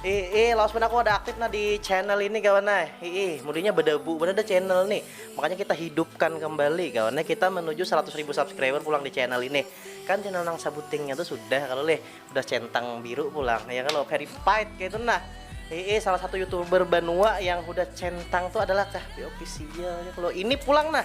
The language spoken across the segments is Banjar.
Iih, lawas banar aku ada aktif nah di channel ini kawan nah. Iih, mudinya bedebu banar ada channel nih. Makanya kita hidupkan kembali kawan nah. Kita menuju 100 ribu subscriber pulang di channel ini. Kan channel nang sabutingnya tuh sudah kalau leh udah centang biru pulang ya kalau verified kayak itu nah. Iih, salah satu youtuber Banua yang udah centang tuh adalah Kahbi Official. Ya, kalau ini pulang nah.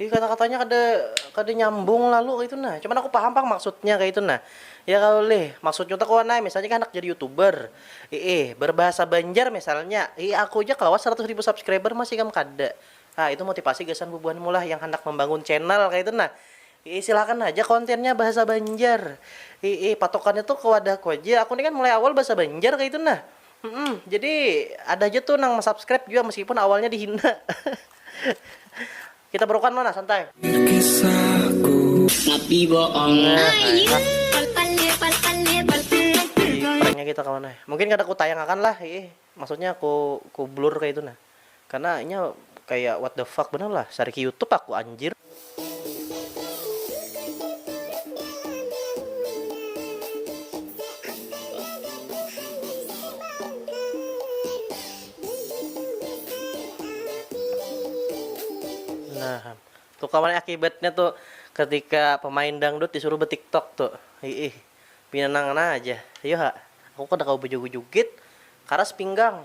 Ih kata-katanya kada kada nyambung lalu kaya itu nah. Cuman aku paham pang maksudnya kaya itu nah. Ya kalo lih, maksudnya tu kawan ai misalnya ikam handak jadi youtuber, iih berbahasa banjar misalnya, iih aku ja kawa saratus ribu subscriber mas ikam kada. Nah itu motipasi gasan bubuhanmu lah yang handak membangun channel kaya itu nah. Iih silakan haja kontennya bahasa banjar. Iih patokannya tu ke wadahku haja, aku ni kan mulai awal bahasa banjar kaya itu nah. Hmm, jadi ada aja tuh nang subscribe juga meskipun awalnya dihina. Kita berokan mana santai. Tapi boong ai. Pranknya kita kawan ai. Mungkin kada ku tayang akan lah, ih. Maksudnya ku ku blur kaya itu nah. Karena inya kaya what the fuck banar lah, sariki youtube aku anjir. Nah, tu kawan akibatnya tu ketika pemain dangdut disuruh betiktok tu. Iih, pina nang ngana aja. Iyo ha, aku kada kawa bejoget-joget, karas pinggang.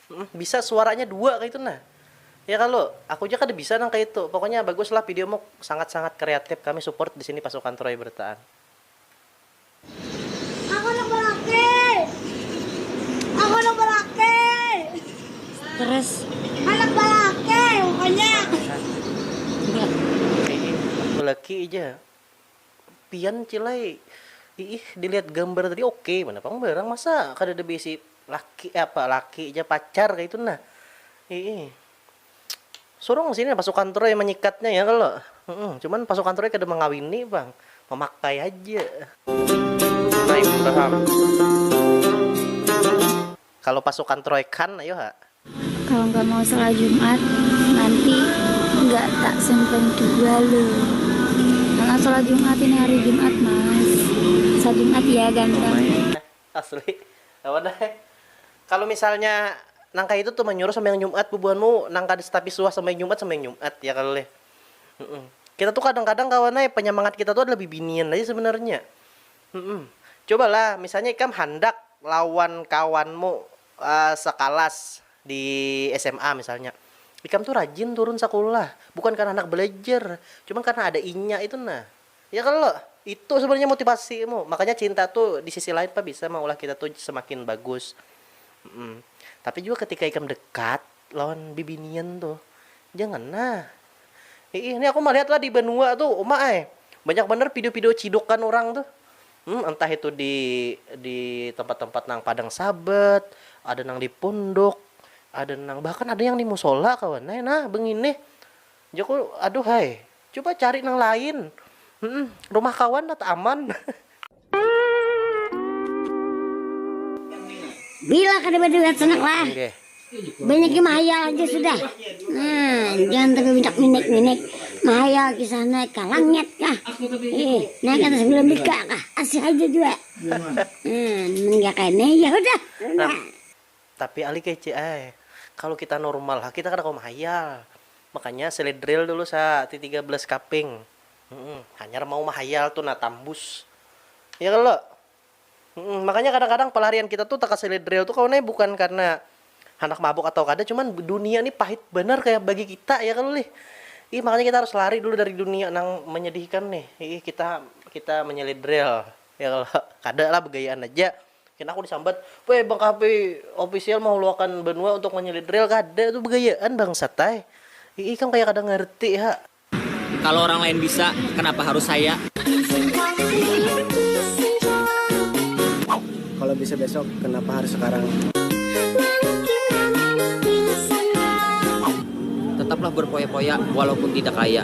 Hmmm bisa suaranya dua kaitu nah ya kalu, aku ja kada bisa nang kaitu, pokoknya bagus lah video mu sangat sangat kreatif kami support disini pasukan troy bertaan. Aku handak balaki Aku handak balaki Terus Handak balaki pokoknya Iih balaki ja Pian cil ai Iih dilihat gambar tadi oke banar pang barang masa kadada beisi Laki apa laki ja pacar kaitu nah iih surung sini pasukan turai manyikatnya ya kalo humm cuman pasukan turai kada mangawini pang mamakai haja. Naim Raham kalo pasukan turai kan ayo ha. Kalo nggak mau shalat jumat nanti nggak ta simpen jua lo anak shalat jumat ini hari jumat mas shalat jumat ya ganteng. Asli. Kawan ai. Kalu misalnya nang kaya itu tuh manyuruh sambahyang Jumat bubuhanmu nang kada tapi suah sambahyang Jumat, sambahyang Jumat ya kalo leh. Kita tuh kadang-kadang kawan ai panyamangat kita tuh adalah bibinian aja sebenarnya. Cobalah misalnya ikam handak lawan kawanmu sakalas di sma misalnya. Ikam tuh rajin turun sakulah, bukan karena handak balajar, cuman karena ada inya itu nah. Ya kalo? Itu sebenarnya motivasi mu. Makanya cinta tu di sisi lain pa bisa maulah kita tu semakin bagus. Tapi jua ketika ikam dekat lawan bibinian tu, jangan nah. Hiih, ni aku malihat lah di banua tu, uma ai. Banyak banar pido-pido cidukan urang tu. Entah itu di di tempat-tempat nang padang sabat, ada nang di punduk, ada nang bahkan ada yang di musola kawan ai nah benginih. Jaku, Aduh hai, cuba cari nang lain. Humm, rumah kawan lat aman. Bila kada baduit sanak lah, banyaki mahayal haja sudah. Nah, jangan tapi banyak minik-minik, mahayal kisah naik ka langit kah, naik atas bulan bika kah, asik haja jua. Nah, mun kaya kene, ya hudah. Tapi Ali kece ai, kalu kita normal ha kita kada kawa mahayal, makanya sele drill dulu sa ti tiga belas kaping, humm hanyar mau mahayal tu nah tambus ya kalo, humm makanya kadang kadang pelarian kita tu taka sele drill tu kawan ai bukan karna handak mabuk atau kada cuman dunia ni pahit banar kaya bagi kita ya kalo lih, ih makanya kita harus lari dulu dari dunia nang menyedihkan nih, iih kita kita menyele drill ya kalo kada lah begayaan aja. Kena aku disambat, weh bang kahp official mahuluakan benua untuk menyulit reel kada tu begayaan bangsat ai. Ii ikam kaya kada ngerti ha. Kalo orang lain bisa, kenapa harus saya? Kalo bisa besok, kenapa harus sekarang? Tetaplah berpoya-poya walaupun tidak kaya.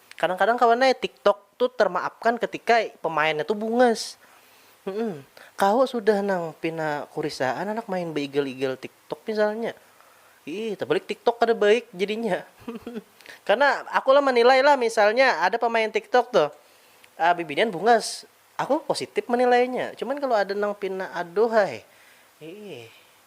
Kadang-kadang kawan ai tiktok tu termaafkan ketika pemainnya tu bungas. Hmm, kawa sudah nang pina kurisaan anak main beigal-igal tiktok misalnya. Ih, terbalik tiktok kada baik jadinya. Karena aku lah menilai lah misalnya ada pemain tiktok tuh uh, bibinian bungas, aku positif menilainya. Cuman kalau ada nang pina aduh hai. Ih.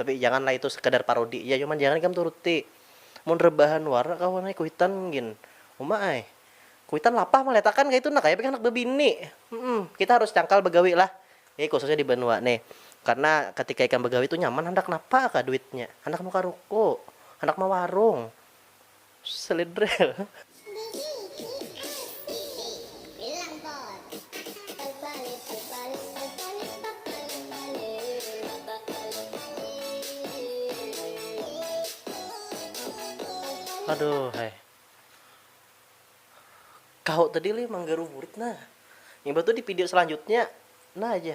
Tapi jangan lah itu sekadar parodi ja cuman jangan ikam turuti. Mun rebahan wara kawan ai kuitan gin. Uma ai. Kuitan lapah malihat akan kaitu nah kaya pian handak bebini. Humm kita harus cangkal bagawi lah. Ini khususnya di banua nih. Karena ketika ikam bagawi tu nyaman handak napa kah duitnya. Handak nukar ruko. Handak mawarung. Slidrel. Aduh hai. Kau tadi lih manggaruburit nah. Imbah tu di video selanjutnya nah aja.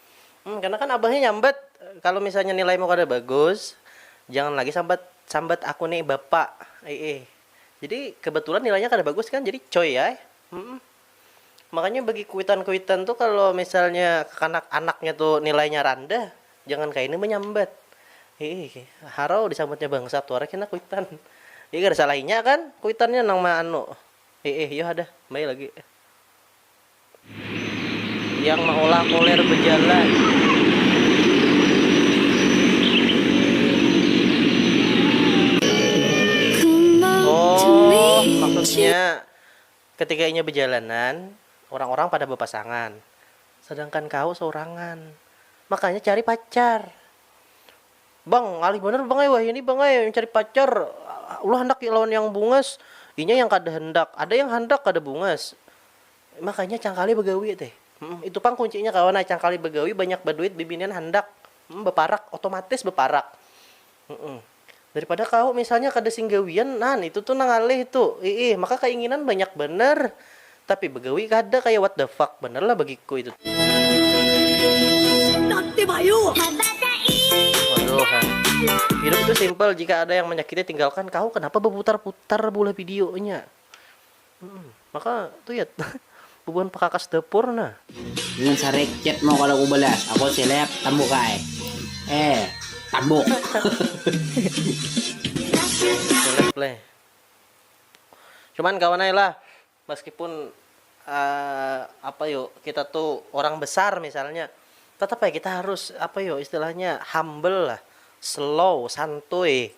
Karena kan abahnya nyambat, kalau misalnya nilaimu kada bagus, jangan lagi sambat sambat aku ni bapa, iih. Jadi kebetulan nilainya kada bagus kan, jadi coy ai. Makanya bagi kuitan-kuitan tu kalau misalnya kekanak-anaknya tu nilainya randah, jangan kaini menyambat, iih. Harau disambatnya bangsat wara kena kuitan. Jadi kada salah inya kan kuitannya nang meanu, iih. Yu ha dah, kembali lagi. yang meolah koler bejalan. Oh, maksudnya ketika inya bejalanan, orang-orang pada bepasangan, sedangkan kau seurangan. Makanya cari pacar. Bang, ngalih banar bang ai wahini bang ai mencari pacar. Ulah handak lawan yang bungas, inya yang kada handak. Ada yang handak kada bungas. Makanya cangkali bagawi teh itu pang kuncinya kawan ai cangkali bagawi banyak baduit bibinian handak baparak otomatis baparak daripada kawa misalnya kada sing gawian nah itu tu nah ngalih tu iih maka kainginan banyak banar tapi bagawi kada kaya what the fuck banar lah bagiku itu hidup tu simple jika ada yang menyakiti tinggalkan kawa kenapa baputar putar beulah video nya. Maka tuyat bubuhan pakakas dapur nah. Ingat sarik chat mu kada kubalas, aku seleb tambuk ai. Eh tambuk. Seleb leh. Cuman kawan ai lah meskipun apa yo kita tu orang besar misalnya tetap ai kita harus apa yo istilahnya humble lah, slow, santuy.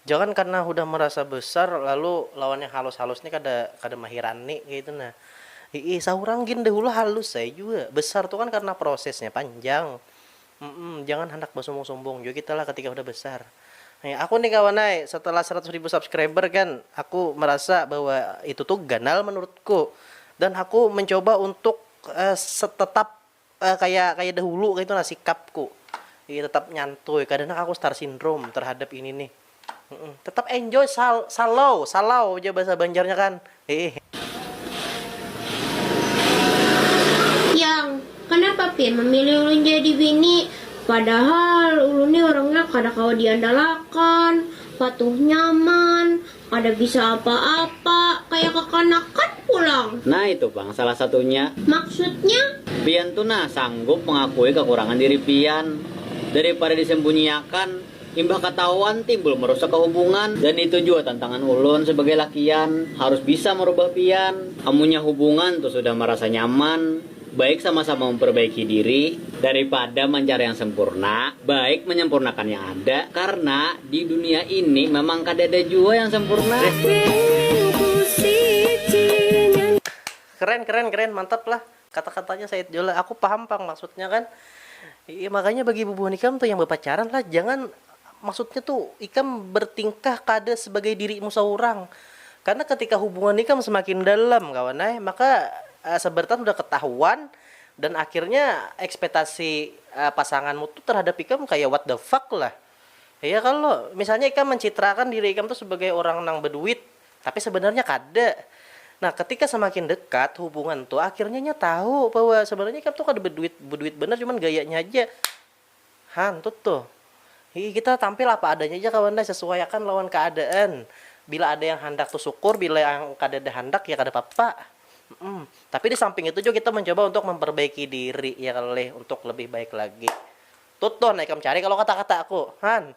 Jangan karna hudah marasa besar lalu lawan yang halus-halus ni kada kada mahirani kaitu nah. Hiih saurang gin dahulu halus ai jua, besar tu kan karna prosesnya panjang. Humm jangan handak basumbung-sumbung jua kita lah ketika hudah besar. Heh aku ni kawan ai setelah seratus ribu subscriber kan aku merasa bahwa itu tu ganal menurutku dan aku mencoba untuk tetap Kaya kaya dahulu kaitu nah sikapku, iya tetap nyantuy kada nang aku star syndrome terhadap ini nih, tetap enjoy sal sallow salau ja bahasa banjarnya kan hehe. Yang, Kanapa Pin memilih ulun jadi bini? Padahal ulun nih orangnya kada kawa diandalakan, patuh nyaman, Kada bisa apa-apa, kaya kakanakan pulang. Nah itu pang salah satunya. Maksudnya? Pian tu nah sanggup mangakui kakurangan diri pian. Daripada disembunyiakan, imbah katahuan timbul merusak kahubungan. Dan itu jua tantangan ulun sebagai lakian, harus bisa merubah pian. Amunnya hubungan tu sudah marasa nyaman. Baik sama-sama memperbaiki diri daripada mancari yang sempurna, baik menyempurnakan yang ada, karna di dunia ini memang kadada jua yang sempurna. Keren keren keren mantap lah kata katanya said jua lah aku paham pang maksudnya kan makanya bagi bubuhan ikam tuh yang bapacaran lah jangan Maksudnya tu, ikam bertingkah kada sebagai dirimu saurang. Karena ketika hubungan ikam semakin dalam kawan ai, maka asa bertahan sudah ketahuan dan akhirnya ekspetasi pasanganmu tu terhadap ikam kaya what the fuck lah. Iya kalo? Misalnya ikam mencitraakan diri ikam tu sebagai orang nang beduit, tapi sebenarnya kada. Nah, ketika semakin dekat hubungan tu, akhirnya inya tahu bahwa sebenarnya ikam tu kada beduit beduit banar, cuman gayanya haja. Hantut tuh. Hihi kita tampil apa adanya ja kawan ai, sasuaiakan lawan kaadaan. Bila ada yang handak tuh sukur, bila yang kadada handak ya kada papa. Humm. Tapi di samping itu jua kita mancoba untuk mamparbaiki diri ya kalo lih untuk lebih baik lagi. Tut tuh nah ikam cari kalo kata-kataku. Han.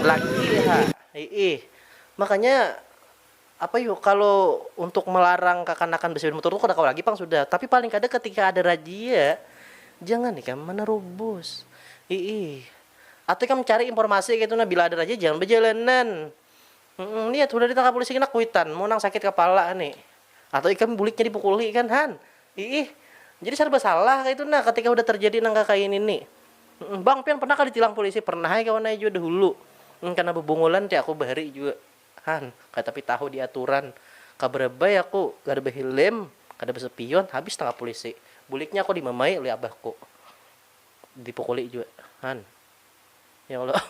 Laki ha iih makanya apa yu kalo untuk melarang kakanakan basipeda mutur tu kada kawa lagi pang sudah tapi paling kada ketika ada rajia jangan ikam menerobos iih atau ikam cari informasi ketu nah bila ada rajia jangan bajalanan. Humm lihat hudah ditangkap polisi kena kuitan mu nang sakit kapala ni atau ikam buliknya dipukuli kan han iih jadi sarba salah kaitu nah ketika hudah terjadi nang kakaya nini humm bang pian pernah kah ditilang polisi pernah ai kawan ai jua dahulu humm kena bebungulan ti aku bahari jua han kaya tapi tahu diaturan kabaraba ai aku kada behilm kada besepion habis tangkap polisi buliknya aku dimamai oleh abahku dipukuli jua han. Ya Allah.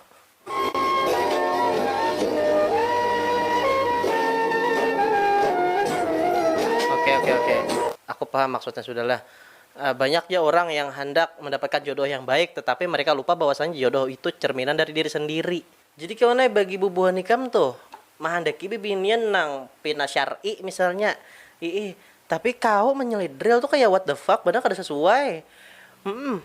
Oke oke oke. Aku paham maksudnya sudahlah. Eh, banyak ya orang yang hendak mendapatkan jodoh yang baik tetapi mereka lupa bahwasannya jodoh itu cerminan dari diri sendiri. Jadi kawan ai bagi bubuhan ikam tuh mahandaki bibinian nang pina syar'i misalnya iih tapi kawa menyelidril tuh kaya what the fuck banar kada sesuai. Hmm.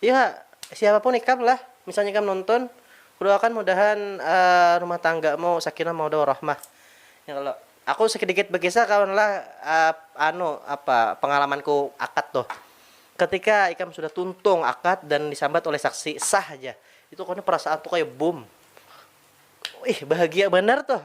Iya, siapa pun ikam lah, misalnya ikam nonton, kudoakan mudahan rumah tanggamu sakinah mawadah warahmah. Nih kalo, aku sedikit bekisah kawan lah anu apa pengalamanku akad tuh. Ketika ikam sudah tuntung akad dan disambat oleh saksi, sah haja. Itu kayaknya perasaan tuh kayak bum. Wih, bahagia banar tuh.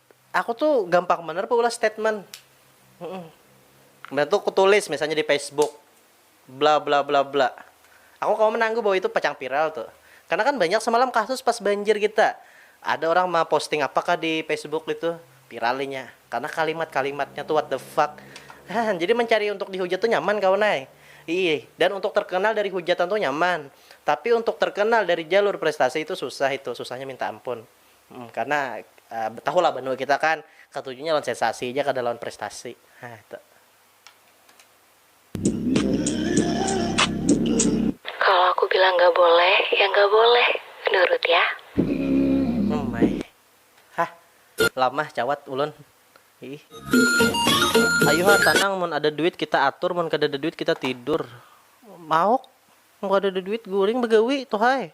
Aku tu gampang banar baulah statement. Mbah tu kutulis misalnya di Facebook bla bla bla bla. Aku kawa manangguh bahwa itu pacang viral tu. Karena kan banyak semalam kasus pas banjir kita. Ada orang maposting apa kah di Facebook itu, viral inya. Karena kalimat-kalimatnya tu what the fuck. Hah, jadi mencari untuk dihujat tu nyaman kawan ai. Iih, dan untuk terkenal dari hujatan tu nyaman. Tapi untuk terkenal dari jalur prestasi itu susah itu, susahnya minta ampun. Karena tahu lah banua kita kan katujunya lawan sensasi ja kada lawan prestasi. Hah itu. Kalo aku bilang nggak boleh, ya nggak boleh. Nurut ya. Hum ai. Hah. Lamah cawat ulun. Iih. Ayu ha tanang mun ada duit kita atur mun kadada duit kita tidur. Mauk. Mun kadada duit guring bagawi tuhai.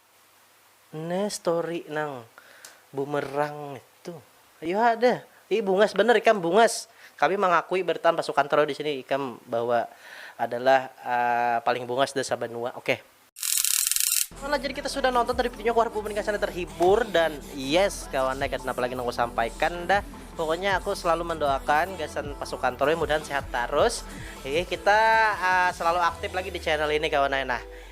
Ne story nang bumerang itu. Ayu ha deh. Ih bungas bener ikam bungas. Kami mangakui bertam pasukan troll di sini ikam bahwa adalah paling bungas de sabanua oke. Oke lah jadi kita sudah nonton tadi videonya ku harap bubuhan gasan ada terhibur dan yes kawan ne kada napa lagi nang ku sampaikan dah pokoknya aku selalu mendoakan gasan pasukan troll mudahan sehat tarus hehe kita uh, selalu aktif lagi di channel ini kawan ne nah